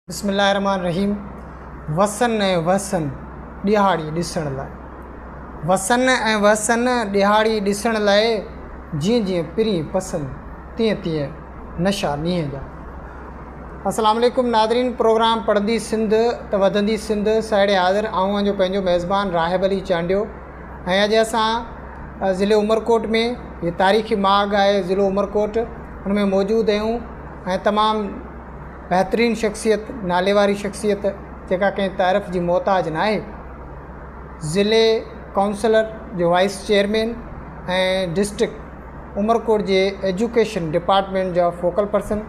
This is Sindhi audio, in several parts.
بسم الله الرحمٰن الرحيم وسن ۽ وهسن ڏيهاڙي ڏسڻ لاء وسن ۽ وهسن ڏيهاڙي ڏسڻ لاء جيئن جيئن پرين پسن تيئن تيئن نشا نينهن جا. السلام عليڪم ناظرين پروگرام پڙهندي سنڌ ته وڌندي سنڌ ساهيڙي حاضر آئون اهان جو پنهنجو ميزبان راهب علي چانڊيو ۽ اڄ اسان ضلعي عمرڪوٽ ۾ هي تاريخي ماڳ آهي ضلعو عمرڪوٽ ان ۾ موجود اهيون ۽ تمام بهترين شخصيت، ناليواري شخصيت جيڪا ڪنهن تعرف جي محتاج ناهي، ضلعي ڪائونسلر جو وائيس چيئرمين ۽ ڊسٽرڪٽ عمرڪوٽ جي ايجوڪيشن ڊپارٽمينٽ جا فوڪل پرسن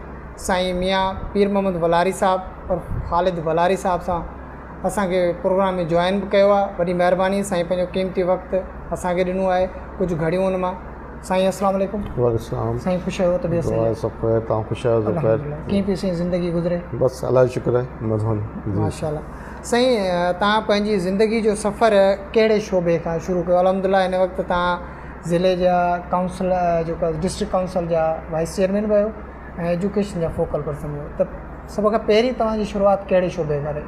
سائين ميان پير محمد ولاري صاحب عرف خالد ولاري صاحب سان اسان کي پروگرام ۾ جوائن به ڪيو آهي وڏي مهرباني سائين پنهنجو قيمتي وقت اسان کي ڏنو آهي ڪجهه گهڙيون ان مان سائين اسلام عليڪم وعليڪم سلام سائين خوش آهيو طبيعت سائين دعا آهي سڀ خير تان خوش آهيو سڀ خير الحمدلله ڪيئن پئي سائين زندگي گذري بس الله جو شڪر آهي مزو جي ماشاءالله سائين تان پنهنجي زندگي جو سفر ڪهڙي شعبي کان شروع ڪيو الحمدلله هن وقت تان ضلعي جا ڪائونسل جيڪو ڊسٽرڪٽ ڪائونسل جا وائيس چيئرمين به آهيو ۽ ايجوڪيشن جا فوڪل پرسن به آهيو ته سڀ کان پهرين توهان جي شروعات ڪهڙي شعبي کان رهي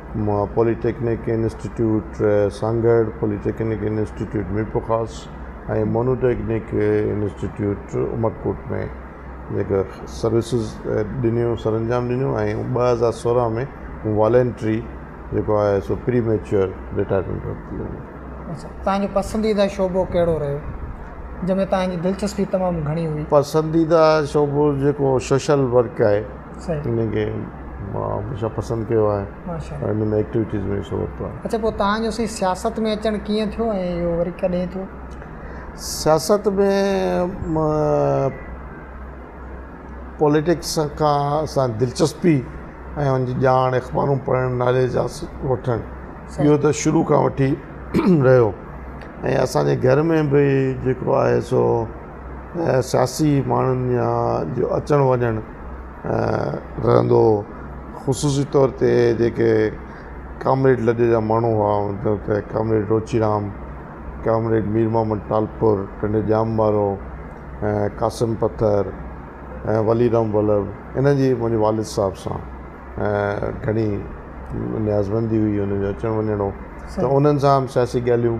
مان polytechnic institute Sanghar, polytechnic institute Mirpurkhas ۽ monotechnic institute Umerkot ۾ جيڪا سروسز ڏنيون سرانجام ڏنيون ۽ ٻه هزار سورهن ۾ مون والينٽري جيڪو آهي سو پري ميچوئر رٽائرمينٽ ورتي هئي. اچا تنهنجو پسنديده شعبو ڪهڙو رهيو جنهن ۾ تنهنجي دلچسپي تمام گهڻي هئي؟ پسنديده شعبو جيڪو سوشل ورڪ آهي. انهن کي مان هميشه پسند ڪيو آهي ۽ انهن ۾ ايڪٽيوٽيز ۾ حصو ورتو آهي. اڇا پوء تهان جو سائين سياست ۾ اچڻ ڪيئن ٿيو ۽ اهو وري ڪڏهن ٿيو؟ سياست ۾ پوليٽڪس کان سان دلچسپي ۽ ان جي ڄاڻ اخبارون پڙهڻ نالي جا وٺڻ اهو ته شروع کان وٺي رهيو ۽ اسان جي گهر ۾ به جيڪو آهي سو ۽ سياسي ماڻهن جا جو اچڻ وڃڻ رهندو هو خصوصي طور تي جيڪي ڪامريڊ لڏي جا ماڻهو هئا مطلب ته ڪامريڊ روچيرام ڪامريڊ مير محمد ٽالپر ٽنڊ ڄام وارو ۽ قاسم پٿر ۽ وليرام ولڀ انهن جي منهنجي والد صاحب سان گهڻي نيازمندي هئي انهن جو اچڻ وڃڻ هو ته انهن سان سياسي ڳالهيون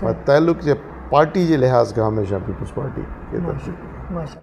پر تعلق جي پارٽي جي لحاظ کان هميشه پيپلز پارٽي کي ترجيح ڏيندو.